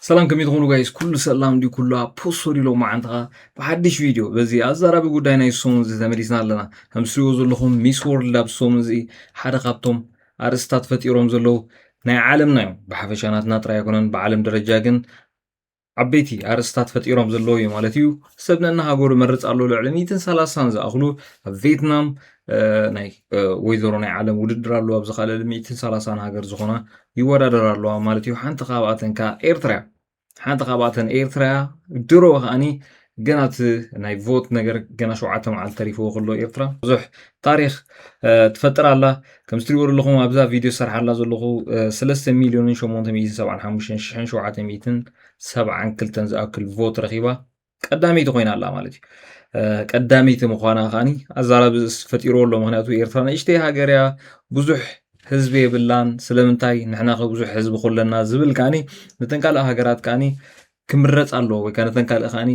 ሰላም ከመይ ትኾኑ ጋይስ ኩሉ ሰላም ድዩ ኩሉ ኣብ ፖሶሪ ሎ መዓልትኻ ብሓድሽ ቪድዮ በዚ ኣዘራቢ ጉዳይ ናይ ሰሙን እዚ ተመሊስና ኣለና ከም ትሪእዎ ዘለኹም ሚስ ወርልድ ኣብ ሰሙን እዚ ሓደ ካብቶም ኣርእስታት ፈጢሮም ዘለዉ ናይ ዓለምና እዮም ብሓፈሻ ናትና ጥራይ ኣይኮነን ብዓለም ደረጃ ግን ዓበይቲ ኣርእስታት ፈጢሮም ዘለዉ እዩ ማለት እዩ ሰብ ነናሃገሩ መርፅ ኣሎ ልዕሊ ሚትን ሰላሳን ዝኣኽሉ ኣብ ቬትናም ናይ ወይዘሮ ናይ ዓለም ውድድር ኣለዋ ኣብዚ ካልእ ልምዒትን ሰላሳን ሃገር ዝኾና ይወዳደር ኣለዋ ማለት እዩ ሓንቲ ካብኣተን ከዓ ኤርትራ እያ ሓንቲ ካብኣተን ኤርትራ እያ ድሮ ከዓኒ ገና እቲ ናይ ቮት ነገር ገና ሸውዓተ መዓልቲ ተሪፍዎ ከሎ ኤርትራ ብዙሕ ታሪክ ትፈጥር ኣላ ከምዚ ትሪእዎ ዘለኹም ኣብዛ ቪድዮ ዝሰርሓ ኣላ ዘለኹ ሰለስተ ሚልዮንን ሸሞንተ ሚእትን ሰብዓን ሓሙሽተን ሽሕን ሸውዓተ ሚእትን ሰብዓን ክልተን ዝኣክል ቮት ረኺባ ቀዳመይቲ ኮይና ኣላ ማለት እዩ ቀዳመይቲ ምኳና ከዓኒ ኣዛራቢ ፈጢርዎ ኣሎ ምክንያቱ ኤርትራ ንእሽተይ ሃገር እያ ብዙሕ ህዝቢ የብላን ስለምንታይ ንሕና ከ ብዙሕ ህዝቢ ኮለና ዝብል ከዓኒ ነተን ካልእ ሃገራት ከዓኒ ክምረፅ ኣለዎ ወይ ከዓ ነተን ካልእ ከዓኒ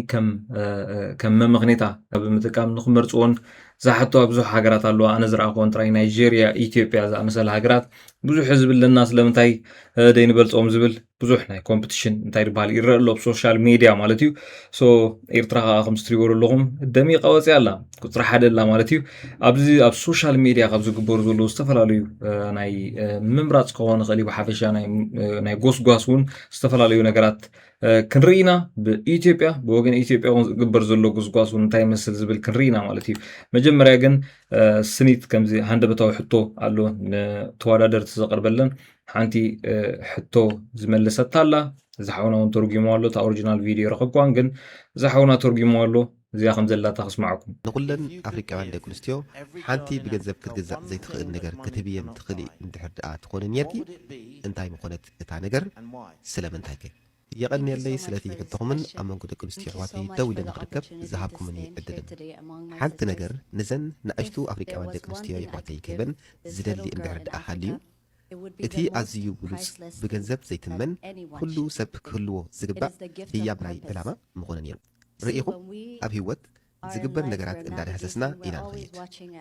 ከም መምክኔታ ብምጥቃም ንክመርፅዎን ዝሓተዋ ብዙሕ ሃገራት ኣለዋ ኣነ ዝረኣክዎን ጥራይ ናይጀርያ ኢትዮጵያ ዝኣመሰለ ሃገራት ብዙሕ ህዝቢ ኣለና ስለምንታይ ደይንበልፆም ዝብል ብዙሕ ናይ ኮምፕቲሽን እንታይ ድበሃል ይረአ ኣሎ ብሶሻል ሜድያ ማለት እዩ ሶ ኤርትራ ከዓ ከም ዝትሪእዎ ዘለኹም ደሚቃ ወፅያ ኣላ ቁፅሪ ሓደ ኣላ ማለት እዩ ኣብዚ ኣብ ሶሻል ሜድያ ካብ ዝግበሩ ዘለዉ ዝተፈላለዩ ናይ ምምራፅ ክኸውን ይኽእል እዩ ብሓፈሻ ናይ ጎስጓስ እውን ዝተፈላለዩ ነገራት ክንርኢ ኢና ብኢትዮጵያ ብወገን ኢትዮጵያ እውን ዝግበር ዘሎ ጎስጓስ እውን እንታይ ይመስል ዝብል ክንርኢ ኢና ማለት እዩ መጀመርያ ግን ስኒት ከምዚ ሃንደበታዊ ሕቶ ኣሎ ንተወዳደርቲ ዘቕርበለን ሓንቲ ሕቶ ዝመለሰታ ኣላ እዚ ሓውና እውን ተርጉሞ ኣሎ እታ ኦሪጂናል ቪድዮ ረኸብኳን ግን እዚ ሓውና ተርጉሞ ኣሎ እዚኣ ከም ዘላታ ክስማዕኩም ንኹለን ኣፍሪቃውያን ደቂ ኣንስትዮ ሓንቲ ብገንዘብ ክትግዛእ ዘይትኽእል ነገር ክትህብየን ትኽእሊ እንድሕር ድኣ ትኾኒ ኔርኪ እንታይ ምኾነት እታ ነገር ስለምንታይከ? የቐንየለይ ስለቲ ሕቶኹምን ኣብ መንጎ ደቂ ኣንስትዮ ኣሕዋተይ ደው ኢለ ንኽርከብ ዝሃብኩምኒ ዕድልን። ሓንቲ ነገር ንዘን ንኣሽቱ ኣፍሪቃውያን ደቂ ኣንስትዮ የሕዋተይ ክህበን ዝደሊ እንድሕር ድኣ ሃልዩ እቲ ኣዝዩ ብሉጽ ብገንዘብ ዘይትመን ኩሉ ሰብ ክህልዎ ዝግባእ ህያብ ናይ ዕላማ ምኾነ ኔሩ። ርእኹም ኣብ ሂወት ዝግበር ነገራት እንዳዳህሰስና ኢና ንኸይድ።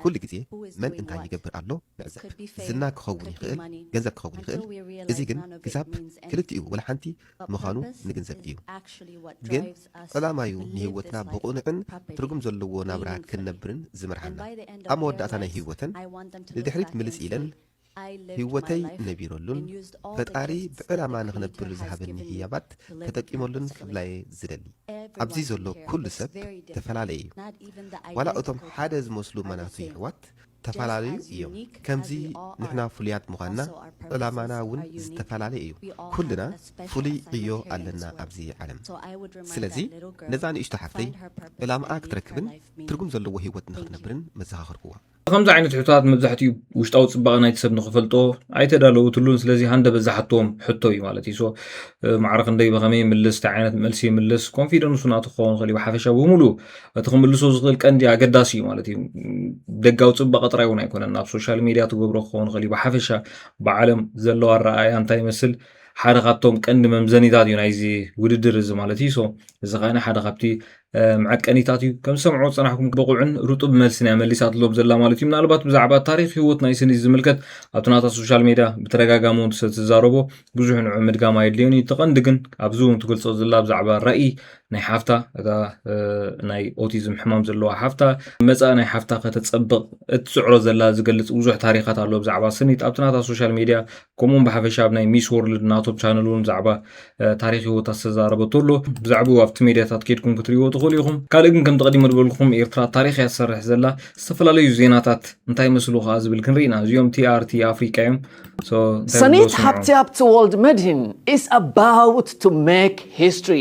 ኩሉ ግዜ መን እንታይ ይገብር ኣሎ ንዕዘብ። ዝና ክኸውን ይኽእል ገንዘብ ክኸውን ይኽእል እዚ ግን ክሳብ ክልቲኡ ወላ ሓንቲ ምኻኑ ንግንዘብ እዩ። ግን ዕላማዩ ንሂወትና ብቕኑዕን ትርጉም ዘለዎ ናብራ ክንነብርን ዝመርሓና። ኣብ መወዳእታ ናይ ሂወተን ንድሕሪት ምልስ ኢለን ህይወተይ ነቢረሉን ፈጣሪ ብዕላማ ንኽነብር ዝሃበኒ ህያባት ተጠቂመሉን ክብላ'የ ዝደሊ። ኣብዚ ዘሎ ኩሉ ሰብ ተፈላለየ'ዩ። ዋላ እቶም ሓደ ዝመስሉ ማናቱ የሕዋት ተፈላለዩ እዮም። ከምዚ ንሕና ፍሉያት ምዃንና ዕላማና ውን ዝተፈላለየ እዩ። ኩልና ፍሉይ ዕዮ ኣለና ኣብዚ ዓለም። ስለዚ ነዛ ንእሽቶ ሓፍተይ ዕላማኣ ክትረክብን ትርጉም ዘለዎ ህይወት ንኽትነብርን መዘኻኸርኩዋ። ከምዚ ዓይነት ሕቶታት መብዛሕትኡ ውሽጣዊ ጽባቐ ናይቲ ሰብ ንኽፈልጦ ኣይተዳለወትሉን ስለዚ ሃንደበት ዝሓቶም ሕቶ እዩ ማለት እዩ ሶ ማዕረ ክንደይ ብኸመይ ይምልስ እንታይ ዓይነት መልሲ ይምልስ ኮንፊደንሱ ናቱ ክኸውን ይኽእል እዩ ብሓፈሻ ብምሉ እቲ ክምልሶ ዝኽእል ቀንዲ ኣገዳሲ እዩ ማለት እዩ ደጋዊ ጽባቐ ጥራይ እውን ኣይኮነን ናብ ሶሻል ሚድያ ትገብሮ ክኸውን ይኽእል እዩ ብሓፈሻ ብዓለም ዘለዋ ኣረኣእያ እንታይ ይመስል ሓደ ካብቶም ቀንዲ መምዘኒታት እዩ ናይዚ ውድድር እዚ ማለት እዩ ሶ እዚ ከዓነ ሓደ ካብቲ መዐቀኒታት እዩ ከም ዝሰምዖ ዝጸናሕኩም ብቑዕን ርጡብ መልስን እያ መሊሳትሎም ዘላ ማለት እዩ ምናልባት ብዛዕባ ታሪክ ህይወት ናይ ስኒ ዝምልከት ኣብቲ ናታ ሶሻል ሜድያ ብተደጋጋሚ እውን ስለትዛረቦ ብዙሕ ንዑ ምድጋም ኣየድልዮን እዩ ተቐንዲ ግን ኣብዚ እውን ትገልጾ ዘላ ብዛዕባ ራእይ ናይ ሓፍታ እታ ናይ ኦቲዝም ሕማም ዘለዋ ሓፍታ መፃእ ናይ ሓፍታ ከተፀብቕ እትፅዕሮ ዘላ ዝገልፅ ብዙሕ ታሪካት ኣሎ ብዛዕባ ስኒት ኣብቲ ናታ ሶሻል ሜድያ ከምኡውን ብሓፈሻ ኣብ ናይ ሚስ ወርልድ ናቶም ቻነል እውን ብዛዕባ ታሪክ ህይወት ዝተዛረበቶ ኣሎ ብዛዕባኡ ኣብቲ ሜድያታት ከድኩም ክትሪእዎ ትኽእሉ ኢኹም ካልእ ግን ከም ተቐዲሞ ዝበልኩም ኤርትራ ታሪክ እያ ትሰርሕ ዘላ ዝተፈላለዩ ዜናታት እንታይ መስሉ ከዓ ዝብል ክንርኢ ኢና እዚኦም ቲኣርቲ ኣፍሪቃ እዮም ሰኒት ሃብቲ ሃብቲ ወልድ መድሂን ኢስ ኣባውት ቱ ሜክ ሂስትሪ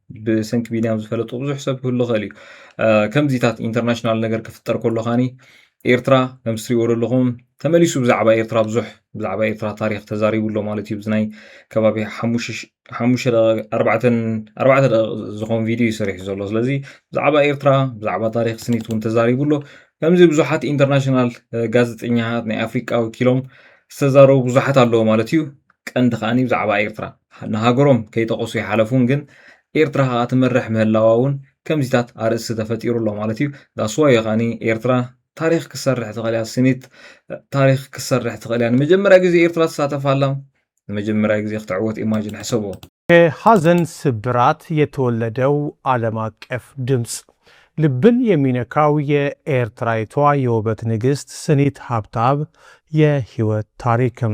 ብሰንኪ ቢንያም ዝፈለጡ ብዙሕ ሰብ ክህሉ ይኽእል እዩ ከምዚታት ኢንተርናሽናል ነገር ክፍጠር ከሎ ካኒ ኤርትራ ከም ዝትሪእዎ ዘለኹም ተመሊሱ ብዛዕባ ኤርትራ ብዙሕ ብዛዕባ ኤርትራ ታሪክ ተዛሪቡ ኣሎ ማለት እዩ ብዝናይ ከባቢ ሓሙሽተ ኣርባዕተ ደቂ ዝኾን ቪድዮ እዩ ሰሪሑ ዘሎ ስለዚ ብዛዕባ ኤርትራ ብዛዕባ ታሪክ ስኒት እውን ተዛሪቡ ኣሎ ከምዚ ብዙሓት ኢንተርናሽናል ጋዜጠኛታት ናይ ኣፍሪቃ ወኪሎም ዝተዛረቡ ብዙሓት ኣለዎ ማለት እዩ ቀንዲ ከኣ ብዛዕባ ኤርትራ ንሃገሮም ከይጠቐሱ ይሓለፉን ግን ኤርትራ ከኣ ትመርሕ ምህላዋ ውን ከምዚታት ኣርእስቲ ተፈጢሩ ኣሎ ማለት እዩ ዳስ ዋይ እዩ ከኣ ኤርትራ ታሪኽ ክሰርሕ ትኽእል እያ ስኒት ታሪኽ ክሰርሕ ትኽእል እያ ንመጀመርያ ግዜ ኤርትራ ትሳተፍ ኣላ ንመጀመርያ ግዜ ክትዕወት ኢማጂን ሕሰቦ ከሀዘን ስብራት የተወለደው ዓለም አቀፍ ድምጽ ልብን የሚነካው የኤርትራይቷ የውበት ንግስት ስኒት ሀብተአብ የህይወት ታሪክም።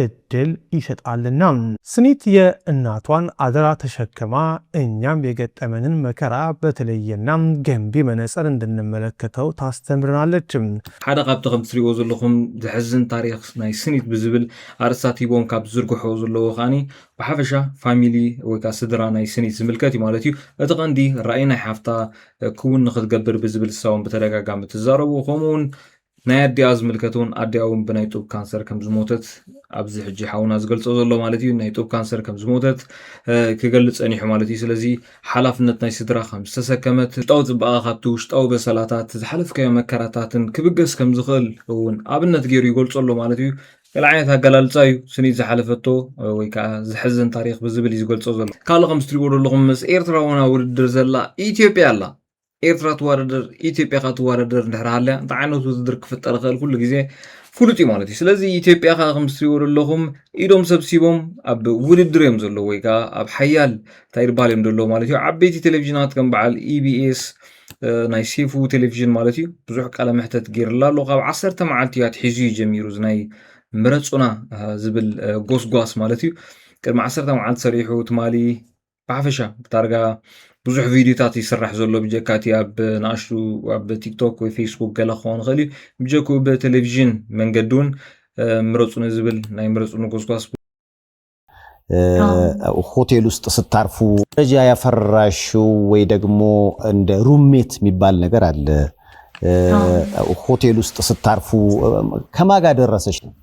እድል ይሰጣልና። ስኒትየ እናቷን ኣደራ ተሸክማ እኛም የገጠመንን መከራ በተለየና ገንቢ መነፀር እንድንመለከተው ታስተምረናለች። ሓደ ካብቲ ከምቲ ትሪእዎ ዘለኹም ዘሕዝን ታሪኽ ናይ ስኒት ብዝብል ኣርእስታት ሂቦም ካብ ዝዝርግሕዎ ዘለዎ ከኣ ብሓፈሻ ፋሚሊ ወይ ከኣ ስድራ ናይ ስኒት ዝምልከት እዩ ማለት እዩ። እቲ ቀንዲ ራኢ ናይ ሓፍታ ክውን ንኽትገብር ብዝብል እሳ ውን ብተደጋጋሚ ትዛረቦ ከምኡ ውን ናይ ኣዲኣ ዝምልከት ውን ኣዲኣ ውን ብናይ ጡብ ካንሰር ከም ዝሞተት ኣብዚ ሕጂ ሓውና ዝገልጾ ዘሎ ማለት እዩ ናይ ጡብ ካንሰር ከም ዝሞተት ክገልጽ ጸኒሑ ማለት እዩ ስለዚ ሓላፍነት ናይ ስድራ ከም ዝተሰከመት ውሽጣዊ ጽባቐ ካብቲ ውሽጣዊ በሰላታት ዝሓለፍካዮ መከራታትን ክብገስ ከም ዝኽእል እውን ኣብነት ገይሩ ይገልጾ ኣሎ ማለት እዩ ገለ ዓይነት ኣገላልጻ እዩ ስኒት ዝሓለፈቶ ወይ ከዓ ዘሕዝን ታሪክ ብዝብል እዩ ዝገልጾ ዘሎ ካልእ ከምዚ ትሪእዎ ዘለኹም ምስ ኤርትራውና ውድድር ዘላ ኢትዮጵያ ኣላ ኤርትራ ትዋዳደር ኢትዮጵያ ከ ትዋዳደር እንድሕር ሃልያ እንታይ ዓይነት ውድድር ክፍጠር ይኽእል ኩሉ ግዜ ፍሉጥ እዩ ማለት እዩ ስለዚ ኢትዮጵያ ከ ከም ትሪእዎ ዘለኹም ኢዶም ሰብሲቦም ኣብ ውድድር እዮም ዘለዉ ወይ ከዓ ኣብ ሓያል እንታይ ድበሃል እዮም ዘለዉ ማለት እዩ ዓበይቲ ቴሌቭዥናት ከም በዓል ኢቢኤስ ናይ ሴፉ ቴሌቭዥን ማለት እዩ ብዙሕ ቃለ መሕተት ገይርላ ኣሎ ካብ ዓሰርተ መዓልቲ እያ ትሒዙ እዩ ጀሚሩ እዚ ናይ ምረፁና ዝብል ጎስጓስ ማለት እዩ ቅድሚ ዓሰርተ መዓልቲ ሰሪሑ ትማሊ ብሓፈሻ ብታርጋ ብዙሕ ቪድዮታት ይስራሕ ዘሎ ብጀካ እቲ ኣብ ንኣሽቱ ኣብ ቲክቶክ ወይ ፌስቡክ ገለ ክኸውን ይኽእል እዩ ብጀክኡ ብቴሌቭዥን መንገዲ እውን ምረፁኒ ዝብል ናይ ምረፁኒ ጎስጓስ ሆቴል ውስጥ ስታርፉ ደረጃ ያፈራሹ ወይ ደግሞ እንደ ሩሜት የሚባል ነገር አለ። ሆቴል ውስጥ ስታርፉ ከማጋ ደረሰች ነው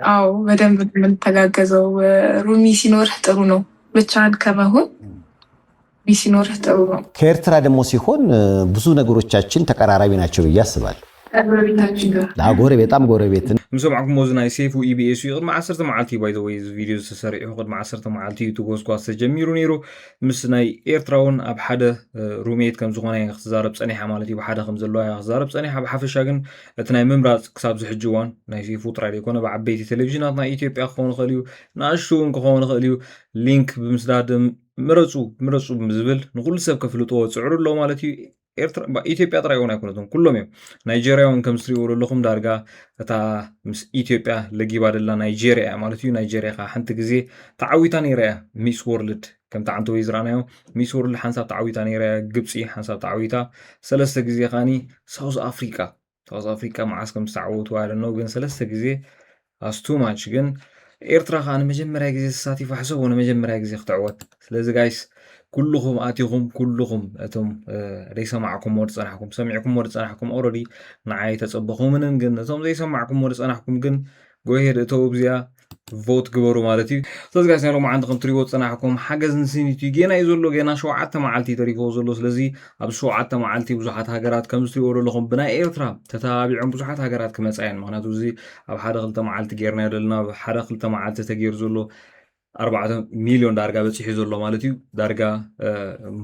አዎ በደንብ የምንተጋገዘው። ሩሚ ሲኖርህ ጥሩ ነው፣ ብቻህን ከመሆን ሩሚ ሲኖርህ ጥሩ ነው። ከኤርትራ ደግሞ ሲሆን ብዙ ነገሮቻችን ተቀራራቢ ናቸው ብዬ አስባለሁ። ጎረቤታችን ጋር ጎረቤት በጣም ጎረቤት ምሰማዕኩም ሞዚ ናይ ሴፉ ኢቢኤስ እዩ ቅድሚ ዓሰርተ መዓልቲ እዩ ባይ ወይ ቪድዮ ዝተሰሪዑ ቅድሚ ዓሰርተ መዓልቲ እዩ ትጎስጓስ ተጀሚሩ ነይሩ ምስ ናይ ኤርትራ እውን ኣብ ሓደ ሩሜት ከም ዝኾነ ክትዛረብ ፀኒሓ ማለት እዩ ብሓደ ከም ዘለዋ ክትዛረብ ፀኒሓ ብሓፈሻ ግን እቲ ናይ ምምራጽ ክሳብ ዝሕጂ እዋን ናይ ሴፉ ጥራይ ዘይኮነ ብዓበይቲ ቴሌቪዥናት ናይ ኢትዮጵያ ክኸውን ይኽእል እዩ፣ ንኣሽቱ እውን ክኸውን ይኽእል እዩ፣ ሊንክ ብምስዳድ ምረጹ ምረጹ ዝብል ንኹሉ ሰብ ከፍልጥዎ ጽዕሩ ኣሎ ማለት እዩ። ኤርትራ ኢትዮጵያ ጥራይ እውን ኣይኮነትን ኩሎም እዮም ናይጀርያ እውን ከም ዝትሪእዎ ዘለኹም ዳርጋ እታ ምስ ኢትዮጵያ ለጊባ ደላ ናይጀርያ እያ ማለት እዩ ናይጀርያ ከዓ ሓንቲ ግዜ ተዓዊታ ነይራ እያ ሚስ ወርልድ ከምቲ ዓንተ ወይ ዝረኣናዮ ሚስ ወርልድ ሓንሳብ ተዓዊታ ነይራ እያ ግብፂ ሓንሳብ ተዓዊታ ሰለስተ ግዜ ከዓኒ ሳውዝ ኣፍሪቃ ሳውዝ ኣፍሪቃ መዓስ ከም ዝተዓወቱ ኣይደነው ግን ሰለስተ ግዜ ኣስቱ ማች ግን ኤርትራ ከዓ ንመጀመርያ ግዜ ተሳቲፋ ሕሰቦ ንመጀመርያ ግዜ ክትዕወት ስለዚ ጋይስ ኩልኹም ኣቲኹም ኩልኹም እቶም ዘይሰማዕኩሞ ዝፀናሕኩም ሰሚዕኩሞ ዝፀናሕኩም ኦረዲ ንዓይ ተፀበኹምንን ግን እቶም ዘይሰማዕኩሞ ዝፀናሕኩም ግን ጎሄድ እተው እብዚኣ ቮት ግበሩ ማለት እዩ ስለዚ ጋይስ ናይ ሎማዓንቲ ከም ትሪዎ ዝፀናሕኩም ሓገዝ ንስኒት እዩ ጌና እዩ ዘሎ ጌና ሸውዓተ መዓልቲ እዩ ተሪፍዎ ዘሎ ስለዚ ኣብዚ ሸውዓተ መዓልቲ ብዙሓት ሃገራት ከምዚ ትሪዎ ዘለኹም ብናይ ኤርትራ ተተባቢዖም ብዙሓት ሃገራት ክመፃ እየን ምክንያቱ እዚ ኣብ ሓደ ክልተ መዓልቲ ጌርና ዘለና ኣብ ሓደ ክልተ መዓልቲ ተገይሩ ዘሎ ኣርባዕተ ሚሊዮን ዳርጋ በፂሑ ዘሎ ማለት እዩ ዳርጋ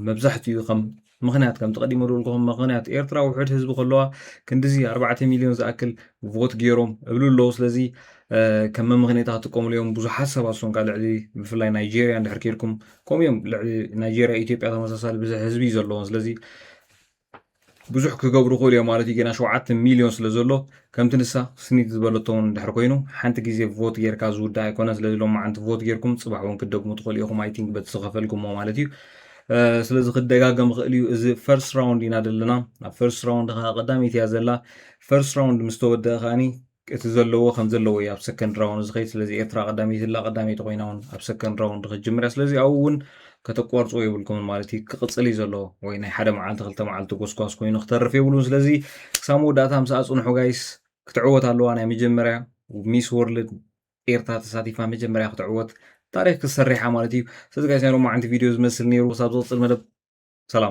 መብዛሕትኡ ከም ምኽንያት ከምቲ ቀዲመ ዝበልኩኹም ምኽንያት ኤርትራ ውሑድ ህዝቢ ከለዋ ክንዲዚ ኣርባዕተ ሚልዮን ዝኣክል ቮት ገይሮም እብሉ ኣለዉ ስለዚ ከም መምኽኔታ ክጥቀምሉ እዮም ብዙሓት ሰባት ሶንካ ልዕሊ ብፍላይ ናይጀርያ እንድሕር ከይድኩም ከምኡ እዮም ልዕሊ ናይጀርያ ኢትዮጵያ ተመሳሳሊ ብዝሕ ህዝቢ እዩ ዘለዎን ስለዚ ብዙሕ ክገብሩ ክእሉ እዮም ማለት እዩ ገና ሸውዓተ ሚልዮን ስለ ዘሎ ከምቲ ንሳ ስኒት ዝበለቶ እውን እንድሕር ኮይኑ ሓንቲ ግዜ ቮት ጌርካ ዝውዳእ ኣይኮነ ስለዚ ሎሚ መዓንቲ ቮት ጌርኩም ፅባሕ እውን ክትደግሙ ትኽእሉ ኢኹም ኣይቲንክ በቲ ዝኸፈልኩሞ ማለት እዩ ስለዚ ክደጋገም ይኽእል እዩ እዚ ፈርስት ራውንድ ኢና ዘለና ኣብ ፈርስት ራውንድ ከዓ ቀዳመይቲ እያ ዘላ ፈርስት ራውንድ ምስ ተወደአ ከዓኒ እቲ ዘለዎ ከም ዘለዎ እዩ ኣብ ሰከንድ ራውንድ ዝኸይድ ስለዚ ኤርትራ ቀዳመይቲ ላ ቀዳመይቲ ኮይና እውን ኣብ ሰከንድ ራውንድ ክትጅምር እያ ስለዚ ኣብኡ እውን ከተቋርፅዎ የብልኩምን ማለት እዩ ክቕፅል እዩ ዘለዎ ወይ ናይ ሓደ መዓልቲ ክልተ መዓልቲ ጎስጓስ ኮይኑ ክተርፍ የብሉን ስለዚ ክሳብ መወዳእታ ምስ ኣፅንሑ ጋይስ ክትዕወት ኣለዋ ናይ መጀመርያ ሚስ ወርልድ ኤርትራ ተሳቲፋ መጀመርያ ክትዕወት ታሪክ ክትሰርሕ እያ ማለት እዩ ስለዚ ጋይስ ናይ ሎማዓንቲ ቪድዮ እዚ ዝመስል ነይሩ ክሳብ ዝቅፅል መደብ ሰላም።